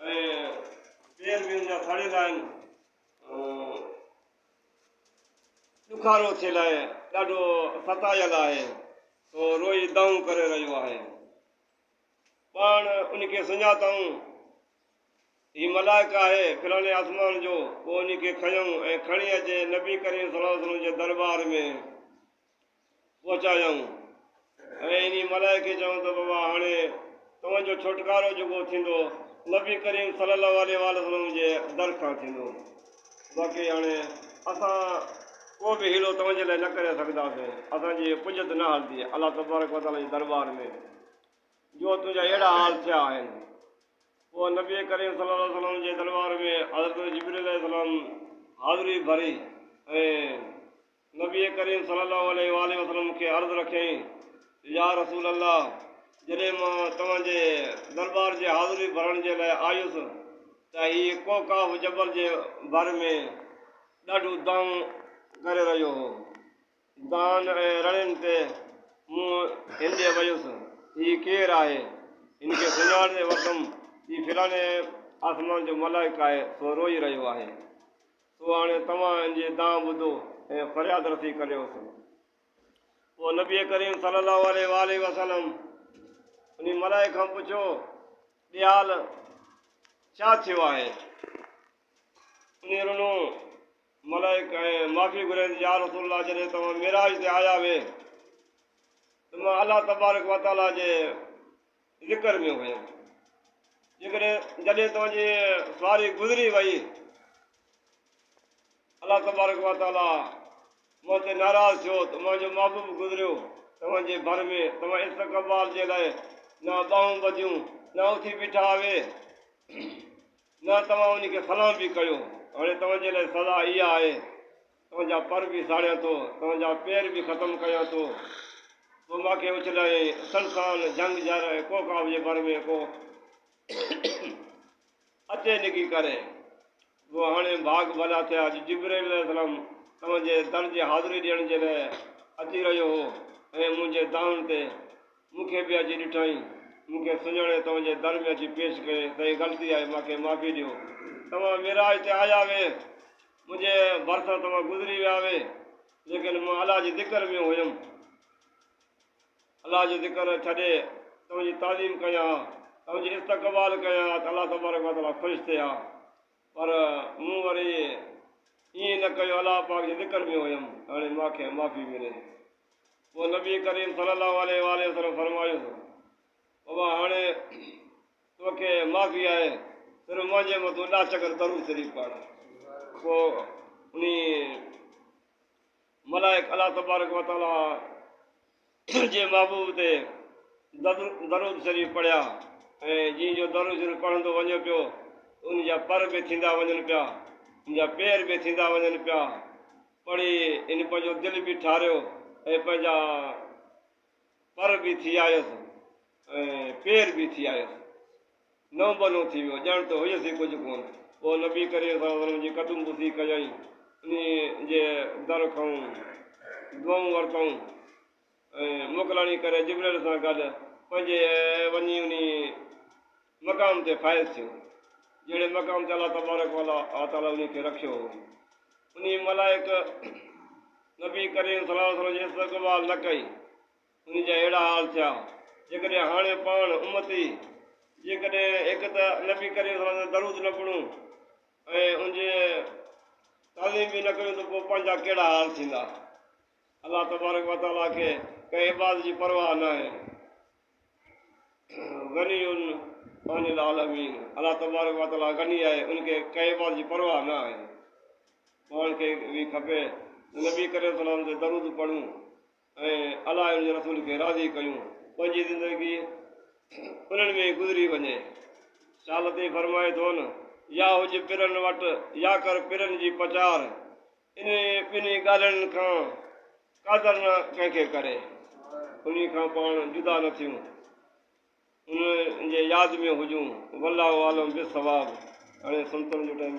۽ پير به ان جا سڙيل آهن ڏکارو ٿيل آهي ڏاڍو ستايل آهي سو روئي دانهون ڪري رهيو آهي پاڻ ان کي سڃاتائون هي ملائڪ آهي فلاڻي آسمان جو پوء ان کي کنيائون ۽ کڻي اچي نبي ڪريم صلي الله علیه وسلم جي دربار ۾ پهچايائون ۽ انهي ملائڪ کي چيائون ته بابا هاڻي توهان جو ڇوٽڪارو جيڪو ٿيندو نبي ڪريم صلي الله عليه واٰله وسلم جي در کان ٿيندو باقي هاڻي اسان ڪو به حيلو توهان جي لاء نه ڪري سگهنداسين اسان جي پڄت نه هلندي الله تبارڪ وتعالي جي دربار ۾ جو تنهنجا اهڙا حال ٿيا آهن پوء نبي ڪريم صلي الله عليه وسلم جي دربار ۾ حضرت جبريل عليه السلام حاضري ڀري ۽ نبي ڪريم صلي الله عليه واٰله وسلم مون کي عرض رکيائين ته يا رسول الله! جڏهن مان توهان جي درٻار جي حاضري ڀرڻ جي لاء آيس ته هي قوقاف جبل جي ڀر ۾ ڏاڍيون دانهون ڪري رهيو هو. دانهن ۽ رڙين تي مون هنڏي ويس، هي ڪير آهي؟ هن کي سڃاڻي وٺم، هي فلاڻي آسمان جو ملائڪ آهي، سو روئي رهيو آهي. سو هاڻي توهان ان جي دانهن ٻڌو ۽ فرياد رسي ڪريوس. پوء نبي ڪريم صلي الله عليه واٰله وسلم انهي ملائڪ کان پڇيو، ڏيال ڇا ٿيو آهي؟ انهي رنو ملائڪ ۽ معافي گهريائين، يا رسول الله جڏهن توهان معراج تي آيا هئي ته مان الله تبارڪ وتعاليٰ جي ذڪر ۾ هيم. جيڪڏهن جڏهن توهان جي سواري گذري وئي، الله تبارڪ و تعاليٰ مون تي ناراض ٿيو ته اوهان جو محبوب گذريو، توهان جي ڀر ۾ توهان استقبال جي لاء نه ٻانهون ٻڌيون، نه اٿي بيٺا هئي، نه توهان ان کي سلام به ڪيو. هاڻي توهان جي لاء سزا اها آهي. تنهنجا پر به ساڙيان ٿو، تنهنجا پير به ختم ڪيان ٿو. تو مان کي اڇلايائين، اسل سان جهنگ جهر ۽ ڪوڪاب جي ڀر ۾ ڪو اچي نڪي ڪري. گو هاڻي ڀاڳ ڀلا ٿيا اڄ جبرئيل عليه السلام تنهنجي در جي حاضري ڏيڻ جي لاء اچي رهيو هو ۽ منهنجي دانهن تي مون کي به اچي ڏٺائين. مون کي سڃاڻي تنهنجي در ۾ اچي پيش ڪيائين، تنهنجي غلطي آهي، مان کي معافي ڏيو. توهان معراج تي آيا هئي. منهنجي ڀرسان توهان گذري ويا هئي، ليڪن مان الله جي ذڪر ۾ هيم. الله جو ذڪر ڇڏي توهان جي تعظيم ڪيان ها، توهان جي استقبال ڪيان ها ته الله تبارڪ و تعاليٰ خوش ٿئي ها. پر مون وري ائين نه ڪيو، الله پاڪ جي ذڪر ۾ هيم، هاڻي مان کي معافي ملي. پوء نبي ڪريم صلي الله عليه واٰله وسلم فرمايو، بابا هاڻي توکي معافي آهي صرف منهنجي مون تون ڏاهه چڪر درود شريف پڙهه پوء انهي ملائڪ الله تبارڪ وتعاليٰ جي محبوب تي درود شريف پڙهيا ۽ جنهن جو درود شريف پڙهندو وڃو پيو ان جا پر به ٿيندا وڃن پيا ان جا پير به ٿيندا وڃن پيا پڙهي ان پنهنجو دل به ٺاريو ۽ پنهنجا پر به ٿي آيس ۽ پير به ٿي آيس. نئون بنو ٿي ويو، ڄڻ ته هيس ئي ڪجهه ڪونه. پوء نبي ڪريم صلي الله عليه وسلم جي قدم بوسي ڪيائين، انهيء جي در کئون، دعائون ورتائون ۽ موڪلاڻي ڪري جبرئيل سان گڏ پنهنجي وڃي انهيء مقام تي فائز ٿيو، جهڙي مقام تي الله تبارڪ و تعاليٰ انهي کي رکيو هو. انهي ملائڪ نبي ڪريم صلي الله عليه وسلم جي استقبال نه ڪئي، انهي جا اهڙا حال ٿيا، جيڪڏهن هاڻي پاڻ، امتي، جيڪڏهن هڪ ته نبي ڪريم صلي الله عليه وسلم تي درود نه پڙهون ۽ ان جي تعظيم به نه ڪيون ته پوء پنهنجا ڪهڙا حال ٿيندا. الله تبارڪ و تعاليٰ کي ڪنهن عبادت جي پرواهه ناهي. غني عن العالمين، الله تبارڪ و تعاليٰ غني آهي، ان کي ڪنهن عبادت جي پرواهه نه آهي. پاڻ کي به کپي ته نبي ڪريم صلي الله عليه وسلم تي درود پڙهون ۽ الله ۽ ان جي رسول کي راضي ڪيون، پنهنجي زندگي انهن ۾ ئي گذري وڃي. شاهه لطيف فرمائي ٿو نه، يا هج پرن وٽ يا ڪر پرن جي پچار، انهن ٻنهي ڳالهين کان قادر نه ڪنهن کي ڪري، انهي کان پاڻ جدا نه ٿيون، انهن جي ياد ۾ هجون، والله عالم بالصواب، هاڻي سنتن جو ٽائيم.